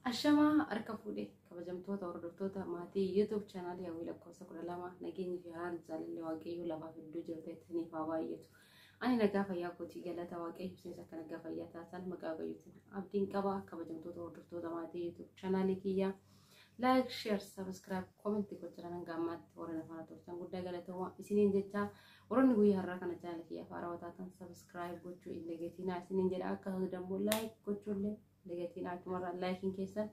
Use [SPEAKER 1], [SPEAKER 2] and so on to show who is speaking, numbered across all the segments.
[SPEAKER 1] Ashamaa harka fuudhe kabajamtoota hordoftoota maatii YouTube chaanaalii hawwii lakkoofsa kudha lama nageenyi fi haaraan jaalalli waaqayyoo lafaaf iddoo jirtu isiniif haa baay'atu. Ani nagaa fayyaa kootii galata waaqayyo isinis akka nagaa fayyaa taasisan maqaa waaqayyootiin abdiin qaba kabajamtoota hordoftoota maatii YouTube chaanaalii kiyyaa. Like, share, subscribe, comment gochuudhaan hanga ammaatti warra na faana turtan guddaa galatooma isiniin jechaa warroonni guyyaa har'aa kana chaanalii kiyya afaan raawwataa kan subscribe gochuu hin dagatinaa isiniin jedha akkasumas immoo like gochuullee dagatinaa achumarraa laayikiin keessan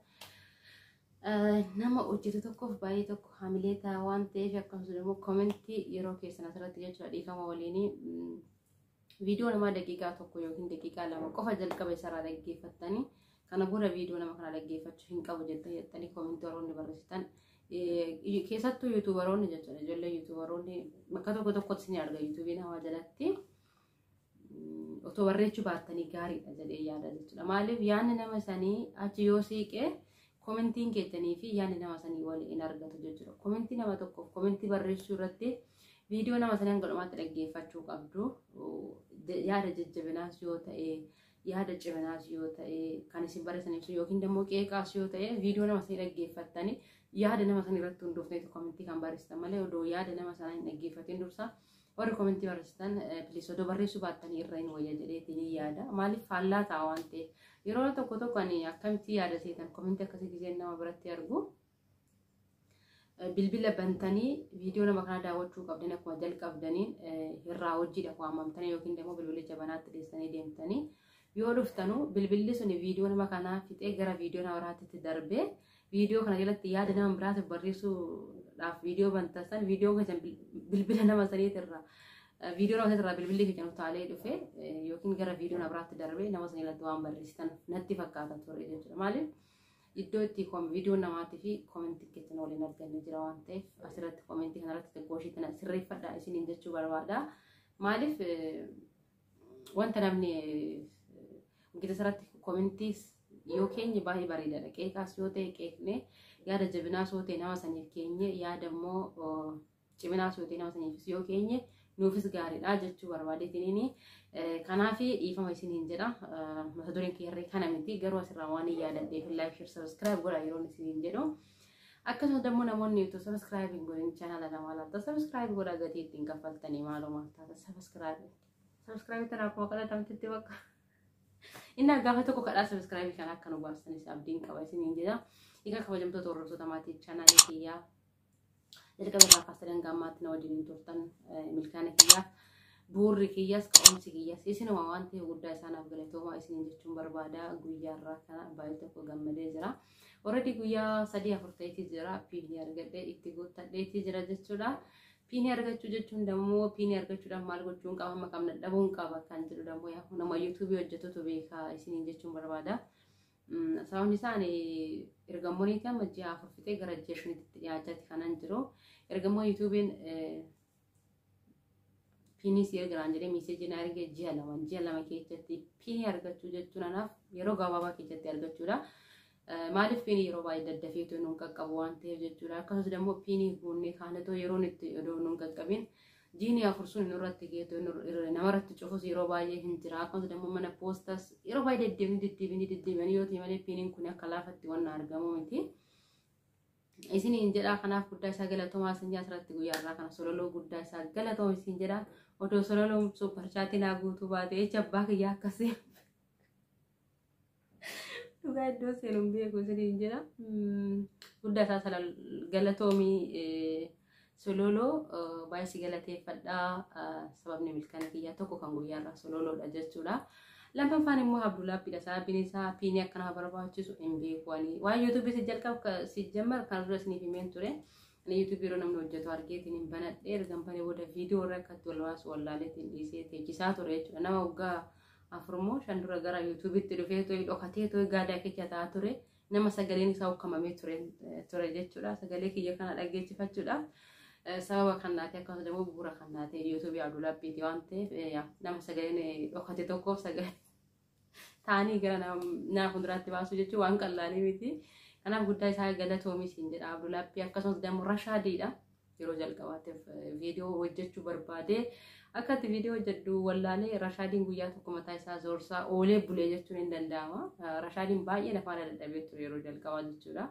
[SPEAKER 1] nama hojjetu tokkoof baay'ee tokko hamilee ta'a waan ta'eef akkasumas immoo komentii yeroo keessan asirratti jechuudha dhiifama waliinii viidiyoo namaa daqiiqaa tokko yookiin daqiiqaa lama qofa jalqaba isaarraa dhaggeeffattanii kana booda viidiyoo nama kana dhaggeeffachuu hin qabu jettanii jettanii koomentii warroonni barreessitan keessattuu yuutuubaroonni jechuudha ijoollee yuutuubaroonni bakka tokko tokkotti ni arga yuutuubiin hawaa jalatti otoo barreechuu baattanii gaariidha jedhee yaada jechuudha maaliif yaanni nama sanii achi yoo siiqee Komentiin keessanii fi yaadni nama sanii wal hin argatu jechuudha. Komentii nama tokkoof komentii barreessuu irratti viidiyoo nama sanii hanga dhumaatti dhaggeeffachuu qabdu. Yaada jajjabinaas yoo ta'e, yaada ciminaas yoo ta'e, kan isin barreessan ibsu yookiin immoo qeeqaas yoo ta'e viidiyoo nama sanii dhaggeeffattanii yaada nama sanii irratti hundooftee komentii kan barreessitan malee odoo yaada nama sanaa hin dhaggeeffatiin dursa Warri komentii barreessitan please odoo barreessuu baattanii irra hin wayya jedheeti ni yaada. Maaliif faallaa ta'a waan ta'eef. Yeroo tokko tokko ani akkamitti yaada seetan komentii akkasii gisee nama biratti argu. Bilbila bantanii viidiyoo nama kana daawwachuu qabdan akkuma jalqabdaniin irraa hojiidha waamamtanii yookiin immoo bilbilicha banaatti dhiyeessanii deemtanii yoo dhuftanu bilbilli sun viidiyoo nama kanaa fixee gara viidiyoo nama biraatti darbee Viidiyoo kana jalatti yaada nama biraatiif barreessuudhaaf viidiyoo banta san viidiyoo keessan bilbila nama saniitirraa viidiyoo nama saniitirraa bilbilli keessan utaalee dhufe yookiin gara viidiyoo na biraatti darbee nama sanii irratti waan barreessitan natti fakkaata ture jechuudha. Maaliif iddoo itti viidiyoo namaatii fi koomentii keessan waliin arganne jira waan ta'eef asirratti koomentii kanarratti xiqqoo ishii tana sirreeffadhaa isiniin jechuu barbaada. Maaliif Wanta namni gita sarratti komintiis yoo keenye baay'ee bareedaadha. Qeeqaas yoo ta'e qeeqnee yaada jabinaas yoo ta'e nama saniif keenye yaada immoo ciminaas yoo ta'e nama saniifis yoo keenye nuufis gaariidha jechuu barbaadeetiniini. Kanaaf dhiifama isiniin jedha. Mata dureen kee irree kana miti garuu asirraa waan hin yaadadheef laayik shir sabiskiraayib godha yeroo isiniin jedhu. Akkasuma dammoo namoonni utuu subscribe hin godhin channel kana maal akka subscribe godhaa gatii ittiin kaffaltanii maaloo maal taata subscribe subscribe tana akkuma kadhatamtetti bakka inni gaafa tokko kadhaa subscribe kana akka nu baastaniif abdiin qaba isiniin jedha. Egaa kabajamtoota hordoftoota maatii channel kiyyaa Jalqaba irraa kaasee hanga ammaatti na wajjin hin turtan milkaana kiyyaaf buurri kiyyaas ka'umsi kiyyaas isinuma waan ta'e guddaa isaanaaf galatoomaa isiniin jechuun barbaada guyyaa irraa kana baay'ee tokko gammadee jira. Already guyyaa sadii afur ta'eetii jira piinii argadhee itti guuttadheetii jira jechuudha. Piinii argachuu jechuun dammoo piinii argachuudhaaf maal gochuun qaba amma qabna dhabuun qaba kan jedhu dammoo yaa nama yuutuubii hojjetutu beeka isiniin jechuun barbaada. Sababni isaa ani ergamoonni amma ji'a afur fixee gara ji'a shanitti dhiyaachaa itti kanan jiru. Ergamoo yuutuubiin piinii si ergiraan jedhee miiseejii na ergee ji'a lama ji'a lama keessatti piinii argachuu jechuun anaaf yeroo gabaabaa keessatti argachuudha. Maaliif piinii yeroo baay'ee daddafeetu nun qaqqabu waan ta'eef jechuudha. Akkasumas immoo piinii guunnee kaanetoo yeroon itti odoo nun qaqqabin jiini afur sun nurratti geetu namarratti cufus yeroo baay'ee hin jira akkasumas immoo mana poostas yeroo baay'ee deddeebiin deddeebiin deddeebiin yoo ta'e malee piiniin kun akka laafatti waan argamu miti. Isin hin jedhaa kanaaf guddaa isaa galatomaa isin asirratti guyyaa irraa kana sololoo guddaa isaa galatoom isin jedhaa odoo sololoon supparchaatiin haa guutuu baate jecha abbaa kiyyaa akkasii. Dhugaa iddoo seenu hin beeku isiniin jira. Guddaa isaa sana galatoomii sololoo baay'ee si galateeffadha. Sababni milkaa'ina kiyyaa tokko kan guyyaarraa sololoodha jechuudha. Lammaffaan immoo Abdullaabbiidha. Sababiin isaa piinii akka nama barbaachisu hin beeku ani. Waan yuutuubii si jalqabu si jammar kan dura isiniif himeen ture. Ani yuutuubii yeroo namni hojjetu argeetiin hin banadhe ergan banee booda viidiyoo irra akkatti wal waasu wallaaleetiin dhiisee teechisaa ture jechuudha. Nama waggaa afurmoo shan dura gara yuutuubitti dhufee to'ee dhokatee to'ee gaadaa keessa taa'aa ture nama sagaleen isaa ukkamamee ture ture jechuudha sagalee kiyya kana dhaggeeffachuudhaaf sababa kannaati akkasumas immoo bu'uura kannaati yuutuubii abdulaabbiiti waan ta'eef nama sagaleen dhokate tokkoof sagalee taa'anii gara nama fuulduraatti baasuu jechuun waan qal'aanii miti kanaaf guddaa isaa galatoomi siin jedha abdulaabbii akkasumas dammo rashaadiidha Yeroo jalqabaatiif viidiyoo hojjechuu barbaadee akka itti viidiyoo hojjedhu wallaalee Rashaadiin guyyaa tokko mataa isaa zoorsaa oolee bulee jechuun hin danda'ama. Rashaadiin baay'ee na faana dadhabee ture yeroo jalqabaa jechuudha.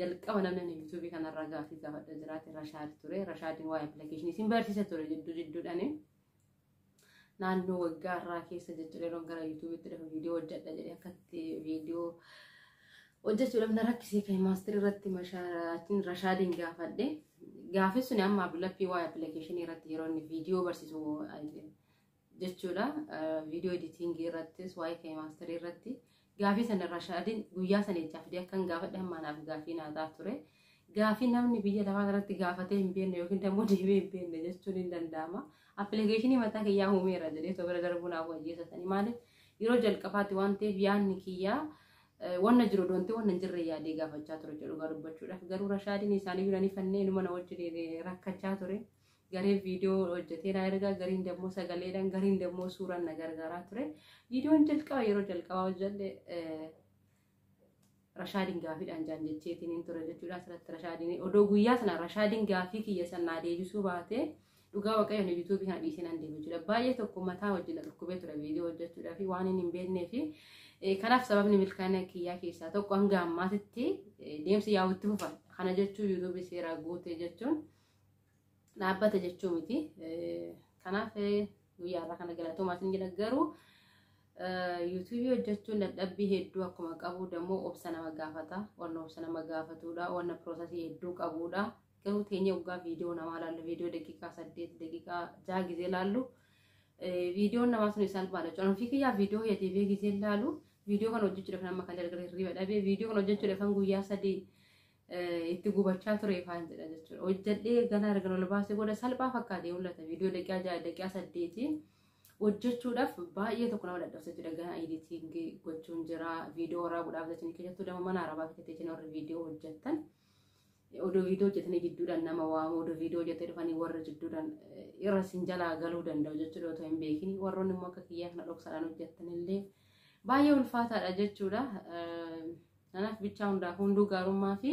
[SPEAKER 1] Jalqaba namni ani yuutuubii kanarraa gaaffii gaafadha jiraate Rashaad ture. Rashaadiin waa'ee appilikeeshinii isin barsiisa ture jidduu jidduudhaani. naannoo waggaa irraa keessa jechuudha yeroon gara yuutuubitti dhufu viidiyoo hojjedha jedhee akkatti viidiyoo hojjechuudhaaf na rakkisee kan maastiri irratti mashaatiin rashaadiin gaafadhe gaafis sun amma abdulappii waa'ee appilikeeshinii irratti yeroo inni viidiyoo barsiisu jechuudha viidiyoo editingii irrattis waa'ee kan maastirii irratti Gaafii sana Rashaadin guyyaa sana ijaa fidee akkan gaafadhe hamma anaaf gaafii naa ta'a ture. Gaafii namni biyya lafaa kanatti gaafatee hin beekne yookiin dammoo deebi'ee hin beekne jechuun hin danda'ama. Appilikeeshinii mataa kiyyaa uumeera jedhee osoo bira darbuu naaf wayyeessatanii maaliif yeroo jalqabaatti waan ta'eef yaadni kiyyaa wanna jiru doonte wanna hin jirre yaadee gaafachaa ture jedhu dhugaa dubbachuudhaaf garuu Rashaadin isaanii yuunanii fannee inuma na wajjin rakkachaa ture. gareen viidiyoo hojjetee na erga gariin dammoo sagaleedhaan gariin dammoo suuraan na gargaaraa ture viidiyoon jalqaba yeroo jalqabaa hojjedhe rashaadiin gaafiidhaan jaan jecheetiin hin ture jechuudha asirratti rashaadiin odoo guyyaa sana rashaadiin gaafii kiyya sanaa deebisuu baatee dhugaa waaqayyoon yuutuubii kana dhiisee nan deema jechuudha baay'ee tokko mataa wajjin na dhukkubee ture viidiyoo hojjechuudhaa fi waan hin beeknee fi kanaaf sababni milkaa'ina kiyyaa keessaa tokko hanga ammaatitti deemsa yaa'utti fufa kana jechuun yuutuubii seeraa guutee jechuun. dhaabbata jechuu miti. Kanaaf guyyaa irraa kana galatoomaa isin jedha garuu yuutuubii hojjechuun dadhabbii hedduu akkuma qabu dammoo obsa nama gaafata wanna obsa nama gaafatudha wanna piroosasii hedduu qabudha garuu teenya waggaa viidiyoo namaa laallu viidiyoo daqiiqaa saddeet daqiiqaa jaha gizee laallu viidiyoon namaa sun isaan baala jechuudha ofii kiyyaa viidiyoo hojjetee gizee laalu viidiyoo kan hojjechuudhaaf nama kan gargaaree hirriba dhabee viidiyoo kan hojjechuudhaaf kan guyyaa sadii itti gubachaa ture faan jedha jechuudha. Hojjedhee ganaa erga ol baasee booda salphaa fakkaatee mul'ata. Viidiyoo daqiiqaa ja'a daqiiqaa saddeetiin hojjechuudhaaf baay'ee tokko nama dadhabsa jechuudha. Ganaa editingii gochuun jira. Viidiyoo waraabuudhaaf jechuun keessattuu dama mana arabaa keessatti jechuun warri viidiyoo hojjettan. Odoo viidiyoo hojjetanii jidduudhaan nama waamu odoo viidiyoo hojjetee dhufanii warra jidduudhaan irra sin jalaa galuu danda'u jechuudha otoo hin beekin. Warroonni immoo akka kiyyaa kana dhoksaadhaan hojjettanillee baay'ee ulfaataadha jechuudha. Kanaaf bichaa hundaaf hunduu gaarummaa fi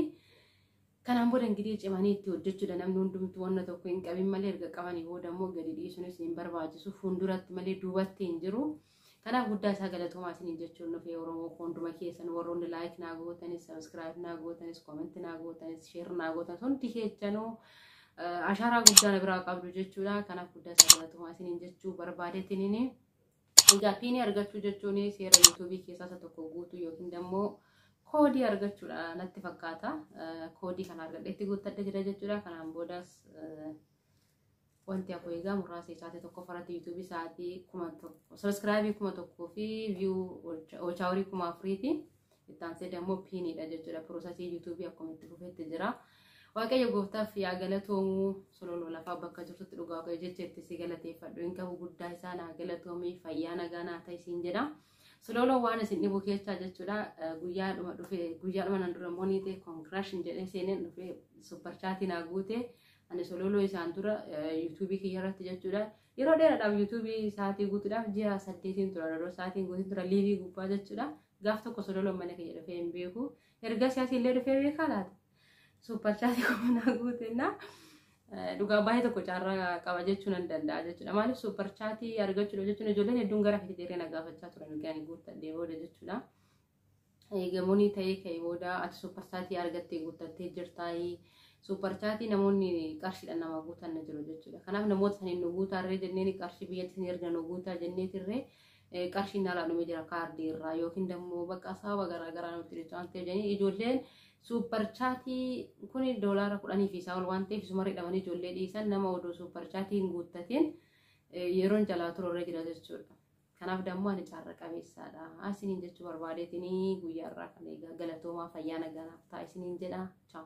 [SPEAKER 1] kanaan booda ingirii cimanii itti hojjechuudha namni hundumtu wanna tokko hin qabin malee erga qabanii booda immoo gadi dhiisuunis hin barbaachisu fuulduratti malee duubatti hin jiru. Kanaaf guddaa isaa galatoomaa isiniin jechuun dhufee Oromoo koo hunduma keessan warroonni laayik naa gootanis sabiskiraayib naa gootanis koomenti naa gootanis sheer naa gootanis hundi keessanuu ashaaraa guddaa na biraa qabdu jechuudha. Kanaaf guddaa isaa galatoomaa isiniin jechuu barbaadeetiniini. Egaa piinii argachuu jechuun seera yuutuubii keessaa isa tokko guutuu yookiin immoo koodii argachuudha natti fakkaata. Koodii kana argadheetti guuttadha jira jechuudha. Kanaan boodas wanti hafu egaa muraasa isaatii tokko farati yuutuubii isaatii kuma tokko sabiskiraabii kuma tokkoo fi viyuu oolchaa horii kuma afuriiti. Itti aansee dammoo piiniidha jechuudha. Piroosasii yuutuubii akkuma itti fufetti jira. Waaqayyo gooftaaf yaa galatoomu sololoo lafaa bakka jirtutti dhugaa waaqayyo jecha itti si galateeffadhu hin qabu guddaa isaa naa galatoomii fayyaa nagaa naa ta'e siin jedha. Sololoo waan isin dhibu keessaa jechuudha guyyaadhuma dhufe guyyaadhuma nan dura monii ta'e konkiraashin jedhee seeneen dhufe supparchaatii naa guute ani sololoo isaan dura yuutuubii kiyya irratti jechuudha yeroo dheeraadhaaf yuutuubii sa'aatii guutuudhaaf ji'a saddeetiin tura yeroo sa'aatiin guutiin tura liivii gubbaa jechuudha Gaaf tokko sololoon mana kiyya dhufee hin beeku. Erga siyaasii illee dhufee beekaa laata? Suuppar chaasii kuma naa guutennaa. Dhugaa baay'ee tokko carraa qaba jechuu nan danda'a jechuudha. Maaliif suuppar chaatii argachuudha jechuun ijoolleen hedduun gara fiti dheeree na gaafachaa turan erga ani guuttadhee booda jechuudha. Eegamuunii ta'ee ka'ee booda ati suuppar chaatii argattee guuttattee jirtaayii. Suuppar chaatii namoonni qarshiidhaan nama guutan jiru jechuudha. Kanaaf namoota saniin nu guutaarree jenneen qarshii biyyatti isin erga nu guutaa jenneetirree qarshii nalaa dhume jira kaardii irraa yookiin dammoo bakka saaba garaa garaa namatti dhufe waan ta'eef jedhanii ijoolleen suuppar chaatii kun doolaara kudhanii fi isaa ol waan ta'eef isuma hidhamanii ijoollee dhiisan nama oduu suuppar chaatii hin guuttatiin yeroon jalaa turorra jira jechuudha. Kanaaf dammoo ani carra qabeessaadha. Isiniin jechuu barbaadeetinii guyyaa irraa kan eegaa galatoomaa fayyaa nagaanaaf ta'a isiniin jedha. Chaaw.